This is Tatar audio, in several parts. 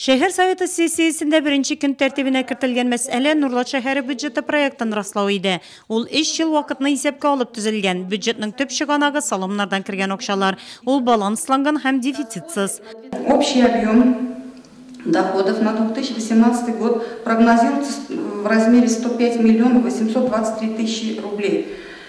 Шәһәр Советы сессиясендә беренче көн тәртибенә кертелгән мәсьәлә Нурлат шәһәре бюджеты проектын раслау иде. Ул өч ел вакытны исәпкә алып төзелгән. Бюджетның төп чыганагы, салымнардан кергән акчалар. Ул балансланган һәм дефицитсыз. Общий объем доходов на 2018 год прогнозируется в размере 105 миллионов 823 тысячи рублей.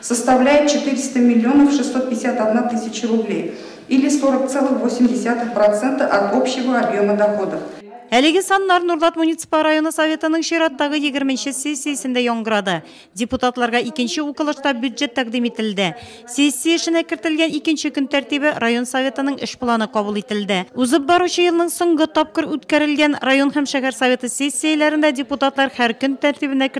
составляет 400 миллионов 651 тысячи рублей или 40 целых 8 десятых процента от общего объема доходов. Әлеге саннар Нурлат муниципаль районы Советының чираттагы егерме нче сессиясендә яңгырады. Депутатларга икенче укылышта бюджет тәкъдим ителде. Сессия эшенә кертелгән икенче көн тәртибе район Советының эш планы кабул ителде. Узып баручы елның соңгы тапкыр үткәрелгән район һәм шәһәр Советы сессияләрендә депутатлар һәр көн тәртибенә